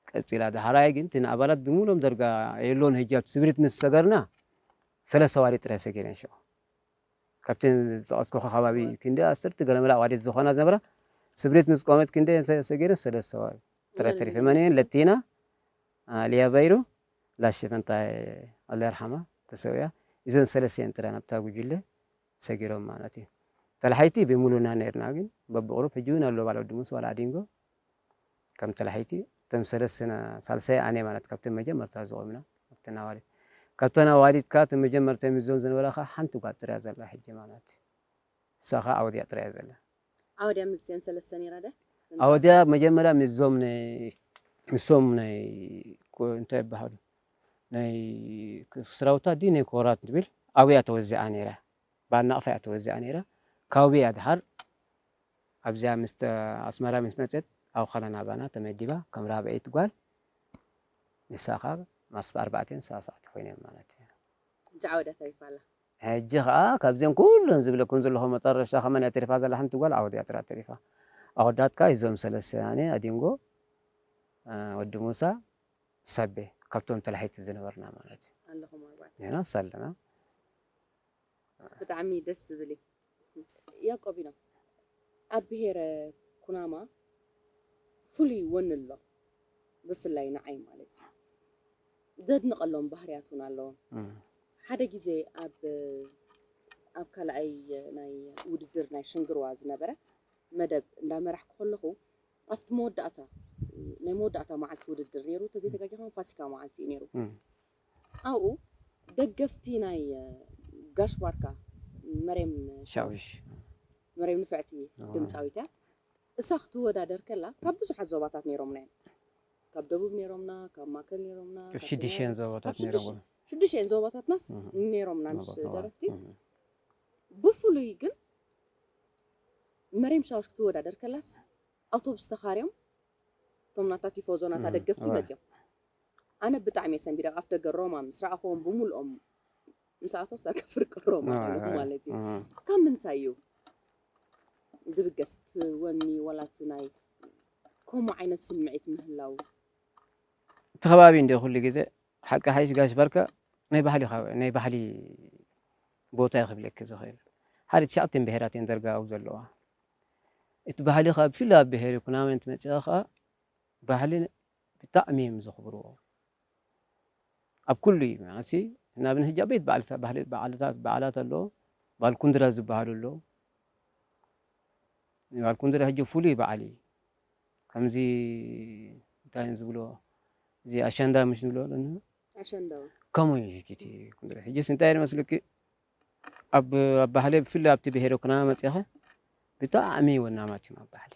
ቀጺላ ዳሕራይ ግን እቲ ንኣባላት ብምሉኦም ደርጋ የሎን ህጂ ኣብቲ ስብሪት ምስ ሰገርና ሰለስተ ኣዋዲት ጥራይ ሰጊረን ሽዑ ካብተን ዝጠቐስኩኻ ከባቢ ክንዲ ኣስርት ገለመለ ኣዋዲት ዝኾና ዝነበራ ስብሪት ምስ ቆመት ክንደየን ሰጊረን ሰለስተ ኣዋዲት ጥራይ ተሪፈን መን እየን ለቲና ሊያ በይሩ ላሽፈንታይ ኣላ ይርሓማ ተሰውያ እዞን ሰለስተ እየን ጥራይ ናብታ ጉጅለ ሰጊሮም ማለት እዩ ተላሓይቲ ብምሉና ነርና ግን በብቕሩብ ሕጂ እውን ኣሎ ባለ ወዲ ሙስ ዋላ ኣዲንጎ ከም ተላሐይቲ እቶም ሰለስትና ሳልሳይ ኣነ ማለት ካብተን መጀመርታ ዝቆምና ኣብተን ኣዋልድ ካብተን ኣዋልድ ከኣ እተን መጀመርታ ይምዘን ዝነበራ ከኣ ሓንቲ ጓል ጥራይ ዘላ ሕጂ ማለት እሳ ከኣ ኣወድያ ጥራይ ዘላ። ኣወድያ ምስዚኤን ሰለስተ ነይራ ድያ? ኣወድያ መጀመርያ ምስዞም ናይ ምስቶም ናይ እንታይ ይበሃሉ ናይ ስራውታ ድዩ ናይ ኮራት ትብል ኣብያ ተወዚዓ ነይራ ባናቕፋ እያ ተወዚዓ ነይራ ካውብያ ድሓር ኣብዚኣ ምስ ኣስመራ ምስ መጸት ኣብ ኻናን ኣባና ተመዲባ ከም ራብዐይቲ ጓል ንሳ ካብ ማስ ኣርባዕቴን ሳሳዕቲ ኮይነ ማለት እዩ። ሕጂ ዓወዳ ተሪፋ ኣላ። ሕጂ ኸኣ ካብዘን ኩለን ዝብለክን ዘለኹ መጠረሻ ከመን እያ ተሪፋ ዘላ ሓንቲ ጓል ዓወድ እያ ጥራይ ተሪፋ ኣወዳትካ እዞም ሰለስተ ኣነ ኣዲንጎ ወዲ ሙሳ ሳቤ ካብቶም ተላሓይቲ ዝነበርና ማለት እዩ። ኣለኹም ኣርባዕተ። ዮናስ ኣለና። ብጣዕሚ ደስ ዝብል እዩ ያቆቢኖ ኣብ ብሄረ ኩናማ ፍሉይ ወኒ ኣሎ ብፍላይ ንዓይ ማለት እዩ ዘድንቀሎም ባህርያት ውን ኣለዎም ሓደ ግዜ ኣብ ኣብ ካልኣይ ናይ ውድድር ናይ ሽንግርዋ ዝነበረ መደብ እንዳመራሕኩ ከለኹ ኣብቲ መወዳእታ ናይ መወዳእታ መዓልቲ ውድድር ነይሩ ተዘይተጋጊኻ ፋሲካ መዓልቲ እዩ ነይሩ ኣብኡ ደገፍቲ ናይ ጋሽ ባርካ መሬም ሻውሽ መሬም ንፍዕቲ ድምጻዊት እያ እሳ ክትወዳደር ከላ ካብ ብዙሓት ዞባታት ኔሮምና እዮም ካብ ደቡብ ኔሮምና ካብ ማከል ኔሮምና ካብ ሽድሽኤን ዞባታት ኔሮምና ሽድሽኤን ዞባታትናስ ኔሮምና ምስ ደረፍቲ ብፍሉይ ግን መሬም ሻውሽ ክትወዳደር ከላስ ኣውቶቡስ ተኻርዮም እቶም ናታ ቲፎዞ ናታ ደገፍቲ መጽዮም ኣነ ብጣዕሚ እየ ሰንቢደ ኣፍ ደገ ሮማ ምስ ረኣኹዎም ብምልኦም ምስ ኣቶስ ዳርጋ ፍርቂ ሮማ ኮይኖም ማለት እዩ ካብ ምንታይ እዩ ዝብገስ እቲ ወኒ ዋላ እቲ ናይ ከምኡ ዓይነት ስምዒት ምህላው እቲ ከባቢ እንደ ኩሉ ግዜ ሓቂ ሓይሽ ጋሽ ባርካ ናይ ባህሊ ናይ ባህሊ ቦታ እዩ ክብለኪ ዝኽእል ሓደ ትሽዓተን ብሄራት እየን ደርጋ ኣብኡ ዘለዋ እቲ ባህሊ ካብ ብፍላይ ኣብ ብሄር ኩናማ እንትመፅእ ከዓ ባህሊ ብጣዕሚ እዮም ዘኽብርዎ ኣብ ኩሉ እዩ መዓሲ እና ብን ህጃ ቤት በዓልታት በዓላት ኣሎ ባልኩንድራ ዝበሃል ኣሎ ባልኩንድራ ህጂ ፍሉይ በዓል እዩ ከምዚ እንታይ ዝብሎ እዚ ኣሸንዳ ምሽ ንብሎ ኣለና ከምኡ እዩ ህጂ እቲ ኩንድራ ህጂስ እንታይ መስልኪ ኣብ ባህሊ ብፍላይ ኣብቲ ብሄረ ኩናማ መፂኸ ብጣዕሚ ወናማት እዮም ኣብ ባህሊ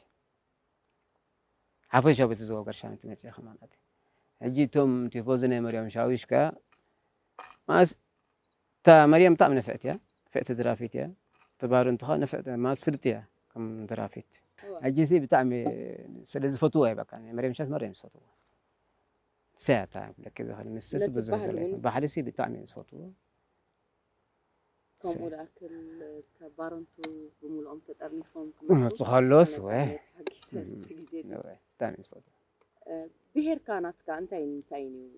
ሓፈሻዊ በቲ ዞባ ገርሻንቲ መጺኣ ከማን ኣትያ ሕጂ እቶም ቲፎዚ ናይ መርያም ሻዊሽ ከኣ ማስ እታ መርያም ብጣዕሚ ነፍዕቲ እያ ፍዕቲ ድራፊት እያ ተባርንቱ ከኣ ነፍዕቲ ማስ ፍልጥቲ እያ ከም ድራፊት ሕጂሲ ብጣዕሚ ስለ ዝፈትዎ እየ በቃ መርያም ሻዊሽ መርያም ዝፈትዎ ንሳ እያ እታ ክብለኪ ዝኽእል ምስስ ብዙሕ ባሕሪሲ ብጣዕሚ እየ ዝፈትዎ ከምኡ ደኣ ካብ ባረንቱ ብምልኦም ተጠርኒፎም ክመፁ ከሎስ ተሓጊሰ ግዜ ብሄርካ ናትካ እንታይን እንታይን እዩ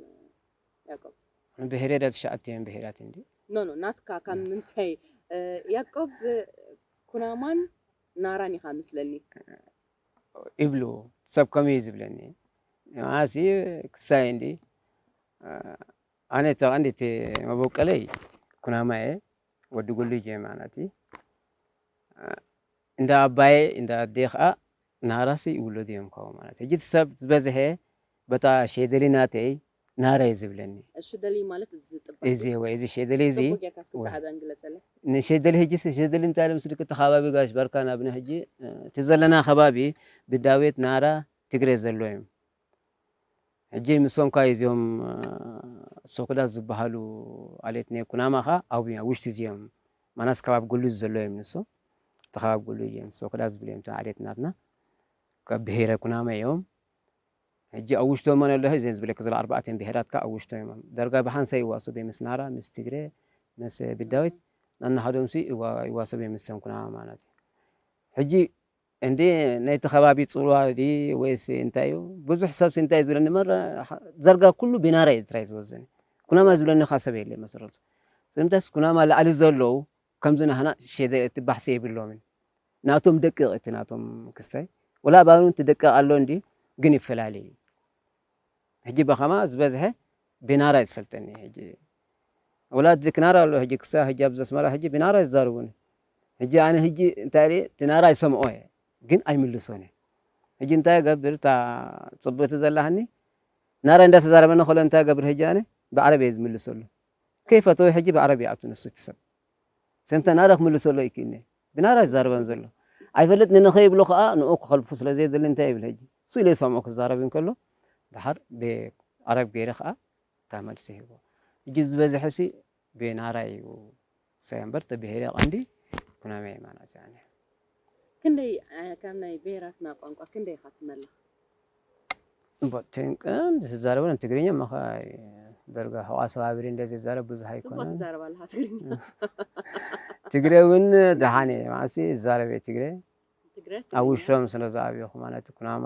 ያቆብ? ብሄረ ደ ትሽዓተ እዮም ብሄራት እንዲ ኖ ኖ ናትካ ካብ ምንታይ ያቆብ ኩናማን ናራን ኢኻ ምስለኒ ይብሉ ሰብ ከምኡ እዩ ዝብለኒ ንዓሲ ክስታይ እንዲ ኣነ ተቐንዲቲ መቦቀለይ ኩናማ እየ ወዲ ጉሉጅ እየ ማናቲ እንዳ ኣባየ እንዳ ኣዴ ከዓ ናራሲ ይውለዱ እዮም ካብኡ ማለት ሕጂ እቲ ሰብ ዝበዝሐ በታ ሸደሊ ናተይ ናራ እዩ ዝብለኒ ሸደሊ ማለት እዚ ጥባይ እዚ ወይ እዚ ሸደሊ እዚ ጽቡቅ ጌርካ እስኪ ብዛዕባ እንግለጸለይ ንሸደሊ ሕጂ ሸደሊ እንታይ ለምስልክ እቲ ከባቢ ጋሽ ባርካ ናብና ሕጂ እቲ ዘለና ከባቢ ብዳዊት ናራ ትግሬ ዘሎ እዮም ሕጂ ምሶም ካይ እዚኦም ሶክዳት ዝባሃሉ ኣሌት ናይ ኩናማ ከ ኣብዮም ኣብ ውሽቲ እዚኦም ማናስ ከባቢ ጉሉዝ ዘሎ እዮም ንሶም እቲ ከባቢ ጉሉ እዮም ሶክዳ ዝብሉ እዮም እቶም ኣሌት ናትና ካብ ብሄረ ኩናማ እዮም ሕጂ ኣብ ውሽቶም መን ኣሎ እዚ ዝብለክ ዘሎ ኣርባዕተን ብሄራት ከ ኣብ ውሽቶም እዮም ዳርጋ ብሓንሳ ይዋሰቡ እዮም ምስ ናራ ምስ ትግረ ምስ ብዳዊት ናናሃዶምሲ ይዋሰቡ እዮም ምስቶም ኩናማ ማለት እዩ ሕጂ እንድዒ ናይቲ ከባቢ ጽልዋ ድዪ ወይስ እንታይ እዩ ብዙሕ ሰብሲ እንታይ እዩ ዝብለኒ መራ ዳርጋ ኩሉ ቢናራ እዩ ጥራይ ዝወዘኒ ኩናማ ዝብለኒ ከኣ ሰብ የለይ መሰረቱ ስለምንታይስ ኩናማ ላዕሊ ዘለዉ ከምዚ ናህና ሸደ እቲ ባሕሲ የብሎምን ናቶም ደቂቕ እዩ እቲ ናቶም ክስታይ ወላ ኣባና እውን እቲ ደቂቕ ኣሎ እንድዩ ግን ይፈላለ እዩ ሕጂ በኸማ ዝበዝሐ ቢናራ እዩ ዝፈልጠኒ ሕጂ ኣውላድ ልክ ናራ ኣሎ ህጂ ክሳብ ህጂ ኣብዚ ኣስመራ ህጂ ብናራ ይዛርቡኒ ህጂ ኣነ ህጂ እንታይ ሪኤ እቲ ናራ ይሰምኦ እየ ግን ኣይምልሶን እየ ህጂ እንታይ ገብር እታ ጽብቲ ዘላሃኒ ናራ እንዳ ተዛረበኒ ከሎ እንታይ ገብር ህጂ ኣነ ብዓረብ እየ ዝምልሰሉ ከይፈተወ ህጂ ብዓረብ ይኣቱ ንሱ እቲ ሰብ ሰምታ ናራ ክምልሰሎ ይክእኒ ብናራ ይዛረበን ዘሎ ኣይፈልጥ ንንኸ ይብሎ ከዓ ንኡ ክኸልፉ ስለ ዘይደሊ እንታይ ይብል ህጂ እሱ ኢለ ይሰምዖ ክዛረብ እንከሎ ድሓር ብዓረብ ገይረ ከዓ እታ መልሲ ሂቦ ሕጂ ዝበዝሐሲ ቤናራ እዩ ሳይ እምበር እቲ ብሄረ ቀንዲ ኩናማ የማናት እያ ን። ክንደይ ካብ ናይ ብሄራትና ቋንቋ ክንደይ ኢኻ ትመልኽ? እምቦ ትንቅን ዝዛረበሉ ትግርኛ እሞ ኸኣ ደርጋ ሕቋ ሰባብሪ እንደ ዝዛረብ ብዙሕ ጽቡቕ ኣይኮነን ትዛረብ ኣለኻ ትግርኛ ትግረ እውን ደሓን እየ መዓሲ ዝዛረብ እየ ትግረ ትግረ ኣብ ትግርኛ ውሽጦም ስለ ዝኣብኹ ማለት ኩናማ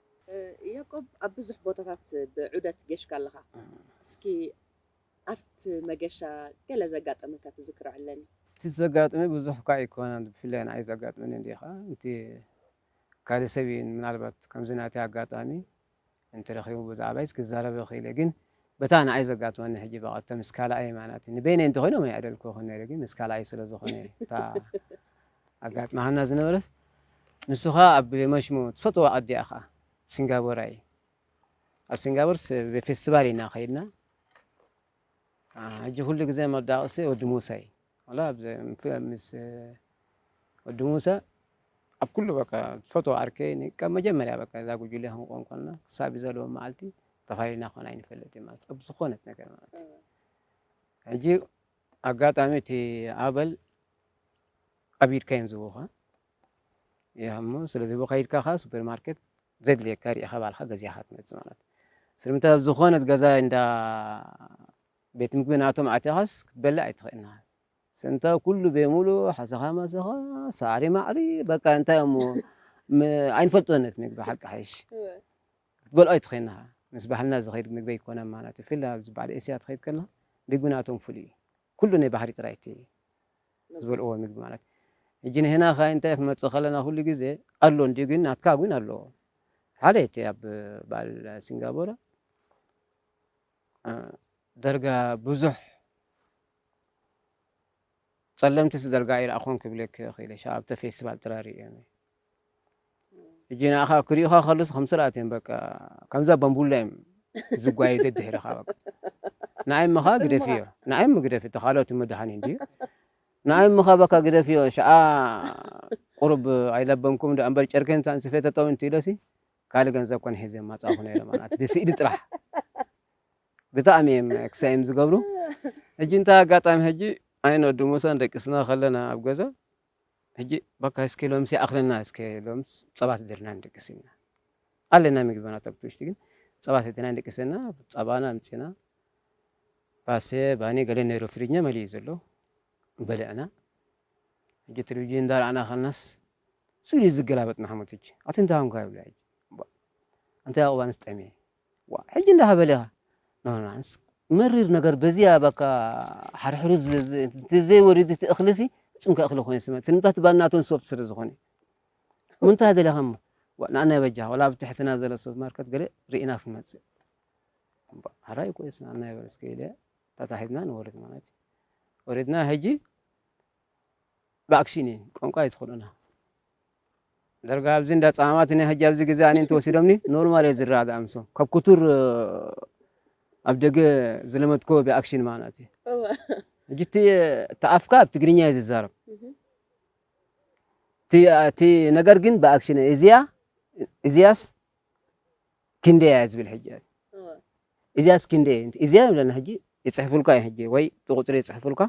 ያቆብ ኣብ ብዙሕ ቦታታት ብዑደት ጌሽካ ኣለኻ እስኪ ኣብቲ መገሻ ገለ ዘጋጠመካ ትዝክሮ ዕለኒ። እቲ ዘጋጥመ ብዙሕ እኳ ኣይኮነን ብፍላይ ንዓይ ዘጋጥመኒ እንዲኻ እቲ ካልእ ሰብ እዩ ምናልባት ከምዚ ናተይ ኣጋጣሚ እንተረኺቡ ብዛዕባይስ ክዛረብ እኽእል እየ ግን በታ ንኣይ ዘጋጥመኒ ሕጂ በቓ እተ ምስ ካልኣየይ ማለት'ዩ ንበይነይ እንተ ኮይኖም ኣይኣደልክዎን ነይረ ግን ምስ ካልኣየይ ስለ ዝኾነ እታ ኣጋጥማሃና ዝነበረት ንሱ ኸኣ ኣብ መሽሙ ትፈትዋ ኣዲኣ ኸኣ ሲንጋቦራይ ኣብ ሲንጋቦር ፌስቲቫል ኢና ከይድና ሕጂ ኩሉ ግዜ መዳቕስቲ ወዲ ሙሳ እዩ ዋላ ኣብዚ ምስ ወዲ ሙሰ ኣብ ኩሉ በቃ ዝፈትዎ ዓርከይ ን ካብ መጀመርያ በቃ እዛ ጉጅለ ክንቆም ኮንና ክሳብ እዚ ዘለወ መዓልቲ ተፋሊልና ኮን ኣይንፈልጥን ማለት ኣብ ዝኾነት ነገር ማለት እዩ። ሕጂ ኣጋጣሚ እቲ ኣበል ኣብ ኢድካ እዮም ዝህቡኻ እሞ ስለ ዝህቡኻ ኢድካ ከኣ ሱፐር ማርኬት ዘድልየካ ርኢኻ ባዕልካ ገዚእኻ ትመጽእ ማለት እዩ። ስለምንታይ ኣብ ዝኾነት ገዛ እንዳ ቤት ምግቢ ናቶም ኣቲኻስ ክትበልዕ ኣይትኽእልናን ስንታ ኩሉ ቤሙሉ ሓሰኻ ማሰኻ ሳዕሪ ማዕሪ በቃ እንታይ እሞ ኣይንፈልጦን እቲ ምግቢ ሓቂ ሓይሽ ክትበልዖ ኣይትኽእልናኻ ምስ ባህልና ዝኸይድ ምግቢ ኣይኮነን ማለት እዩ ፍላ ኣብዚ በዓል ኤስያ ትኸይድ ከለኻ ምግቢ ናቶም ፍሉይ እዩ ኩሉ ናይ ባህሪ ጥራይ እቲ ዝበልዕዎ ምግቢ ማለት እዩ ሕጂ ንህና ከ እንታይ ክንመፅእ ከለና ኩሉ ግዜ ኣሎ እንዲዩ ግን ናትካ ግን ኣለዎ ሓደ እቲ ኣብ በዓል ሲንጋቦራ ደርጋ ብዙሕ ጸለምቲ ስደርጋ ኣይረኣኹን ክብለኪ ክኢለ ሻ ኣብተ ፌስቲቫል ጥራይ ርእዮም እየ እጂ ንኣኻ ክሪኡኻ ከሉስ ከም ስርኣት እዮም በቃ ከምዛ በምቡላ እዮም ዝጓየ ደድሕርኻ በቃ ንኣይ ምኻ ግደፍዮ ንኣይ ምግደፍ እቲ ካልኦት መድሃኒ እንድዩ ንኣይ ምኻ በካ ግደፍዮ ሸኣ ቁሩብ ኣይለበምኩም ዶ ኣንበር ጨርኬን ሳንስፌተተው እንትኢለሲ ካልእ ገንዘብ ኮነ ሒዘ ምመጻእኩ ነይረ ማለት ብስእሊ ጥራሕ ብጣዕሚ እዮም ክሳይም ዝገብሩ ሕጂ እንታይ ኣጋጣሚ ሕጂ ኣይነ ወዲ ሙሳን ደቂስና ከለና ኣብ ገዛ ሕጂ በካ እስኪ ሎምሲ ኣኽለና እስከ ሎም ጸባ ትድርና ንደቅስ ኢና ኣለና ምግብና ተብቲ ውሽጢ ግን ጸባ ሰትና ንደቅስ እና ጸባና ኣምፅና ባሰ ባኒ ገለ ነይሩ ፍሪጅና መሊኡ ዘሎ በልዕና ሕጂ ቴሌቪዥን እንዳርኣና ከለናስ ስኢሉ እዩ ዝገላበጥ ንሓመቱ እጂ ኣቲ እንታይ ኮንካ ይብሎ ሕጂ እባ ኣንታይ ያቆብ ኣነስ ጠምየ ዋእ ሕጂ እንዳ ሃበለ ኢካ ኖ ኖ ኣነስ መሪር ነገር በዚኣ ባካ ሓርሕሩ ዘይ ወሪድ እቲ እክሊ ሲ ጽምካ እክሊ ኮይኑ ስመ ስምታት ባል ናቶም ሶፍት ስለ ዝኮነ ምንታይ ደለካ እሞ ዋእ ንኣና በጃካ ወላ ኣብ ትሕትና ዘሎ ሱፐር ማርኬት ገለ ርኢና ክንመጽእ እባ ሓራይ እኮ ስና ኣና ይበል እስከ ኢለ ታታሒዝና ንወርድ ማለት እዩ ወሪድና ሕጂ ብኣክሽን እየን ቋንቋ እየ ትኽእሎና ደርጋ ኣብዚ እንዳ ጻማማት ናይ ሕጂ ኣብዚ ግዜ ኣነ እንተወሲዶምኒ ኖርማል እየ ዝረጋጋእ ምሶም ካብ ኩቱር ኣብ ደገ ዝለመድኮ ብኣክሽን ማለት እዩ ሕጂ እቲ ተኣፍካ ኣብ ትግርኛ እየ ዝዛረብ እቲ ነገር ግን ብኣክሽን እዚያ እዚያስ ክንደይ እያ ዝብል ሕጂ እዚኣስ ክንደይ እዚኣ ብለና ሕጂ ይፅሕፉልካ እዩ ሕጂ ወይ ቁፅሪ ይፅሕፉልካ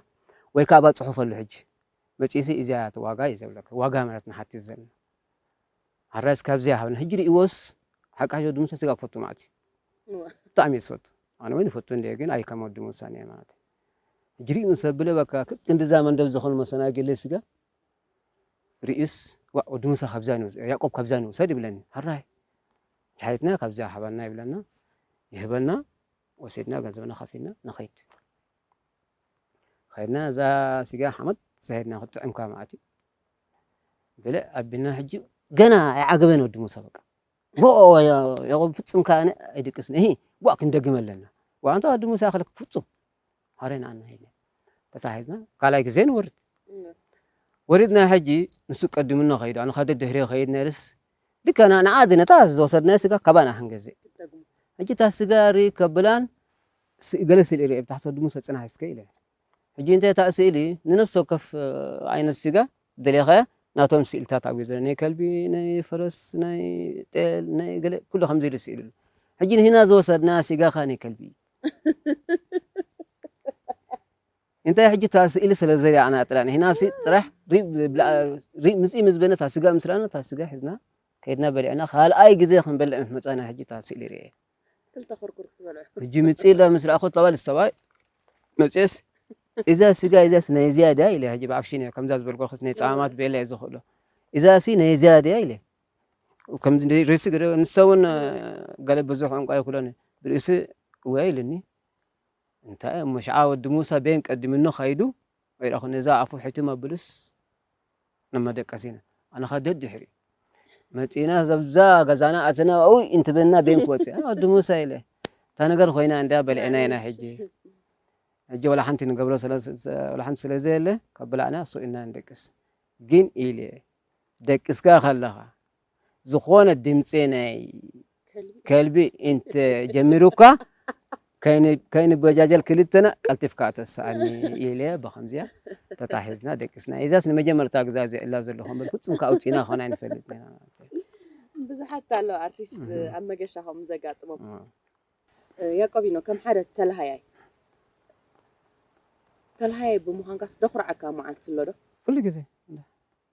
ወይ ካባ ፅሑፈሉ ሕጂ መፂእሲ እዚኣ ዋጋ እዩ ዘብለካ ዋጋ ማለት ንሓትት ዘለና ሓራስ ካብዚያ ሃብና ሕጂ ርእዎስ ሓቃሾ ድምሰ ስጋ ክፈቱ ማለት እዩ ብጣዕሚ እዩ ዝፈቱ ኣነ እውን ይፈቱ እንደ ግን ኣይ ከም ወዲ ምውሳኔ ማለት እዩ ሕጂ ርእዩ ሰብ ብለ በካ ክንዲዛ መንደብ ዝኾኑ መሰናግሊ ስጋ ርእዩስ ዋእ ወዲ ሙሳ ካብዛ ንውሰድ ያቆብ ካብዛ ንውሰድ ይብለኒ ሐራይ ሓየትና ካብዛ ሓባና ይብለና ይህበና ወሲድና ገንዘብና ከፊልና ንኸይድ ከይድና እዛ ስጋ ሓመት ዝሄድና ክትጥዕምካ መዓት እዩ ብልዕ ኣቢልና ሕጂ ገና ኣይዓገበን ወዲ ሙሳ በቃ ኦኦኦ ያቆብ ፍጹም ከኣ ኣነ ኣይድቅስን እሂ ጓእ ክንደግም ኣለና ዋንታ ወዲ ሙሳ ክልክ ፍጹም ሐሬን ኣና ሄለ ተታሒዝና ካልኣይ ግዜ ንወርድ ወሪድና ሕጂ ንሱ ቀድምና ከይዱ ኣነ ካደ ድሕሪ ከይድ ነርስ ልከና ንኣ ዝነታ ዝወሰድና ስጋ ካባና ክንገዝእ ሕጂ እታ ስጋ ሪ ከብላን ገለ ስል ርኤ ብታሕሰ ወዲ ሙሳ ጽናሕ እስከ ኢለ ሕጂ እንተ እታ ስእሊ ንነፍሲ ወከፍ ዓይነት ስጋ ደሊኻ ናቶም ስእልታት ኣብኡ ዘሎ ናይ ከልቢ ናይ ፈረስ ናይ ጤል ናይ ገለ ኩሉ ከምዚ ኢሉ ስእሊ ኣሎ ሕጂ ንህና ዝወሰድና ስጋኻ ናይ ከልቢ እንታይ ሕጂ እታ ስእሊ ስለ ዘሪኣና ጥራይ ንህና ጥራሕ ምፅኢ ምስ በነ እታ ስጋ ምስ ረኣና እታ ስጋ ሒዝና ከይድና በሊዕና ካልኣይ ግዜ ክንበልዕ ምስ መፃና ሕጂ እታ ስእሊ ርኤ ክልተ ኩርኩር ክትበልዑ ሕጂ ምጽእ ኢለ ምስ ረኣኹት ኣባል ሰባይ መጽስ እዛ ስጋ እዛስ ናይ እዚያ ድያ ኢለ ሕጂ ብኣክሽን እየ ከምዛ ዝበልኩክስ ናይ ጸማማት ቤላ እየ ዝኽእሎ እዛሲ ናይ እዚያ ድያ ኢለ ከምዚ ርእሲ ግደ ንሳ እውን ገለ ብዙሕ ቋንቋ ይኩሎን ብርእሲ እወ ኢልኒ እንታይ እሞ ሸዓ ወዲ ሙሳ ቤን ቀዲምኖ ካይዱ ወይራኹ ነዛ ኣፉ ሕትም ኣብሉስ ንመደቀሲና ኣነኻ ደድሕሪ መጺእና ዘብዛ ገዛና ኣትና ኣኡ እንትበልና ቤን ክወጽእ ኣነ ወዲ ሙሳ ኢለ እታ ነገር ኮይና እንዳ በልዕና ኢና ሕጂ ሕጂ ወላ ሓንቲ ንገብሮ ወላ ሓንቲ ስለ ዘየለ ካብ ብላዕና ሱኢና ንደቅስ ግን ኢለ ደቅስካ ከለኻ ዝኾነ ድምፂ ናይ ከልቢ እንተ ጀሚሩካ ከይንበጃጀል ክልተና ቀልጢፍካ ተስኣኒ ኢለ ብኸምዚያ ተታሒዝና ደቂስና። እዛስ ንመጀመርታ ግዛ እዚኣ እላ ዘለኹ እምበር ፍጹም ከ ኣውጺእና ኮን ኣይንፈልጥ ብዙሓት ኣለዉ ኣርቲስት ኣብ መገሻ ከምኡ ዘጋጥሞም። ያቆቢኖ ከም ሓደ ተላሃያይ ተላሃያይ ብምዃንካስ ደኹርዓካ መዓልቲ ኣሎ ዶ? ኩሉ ግዜ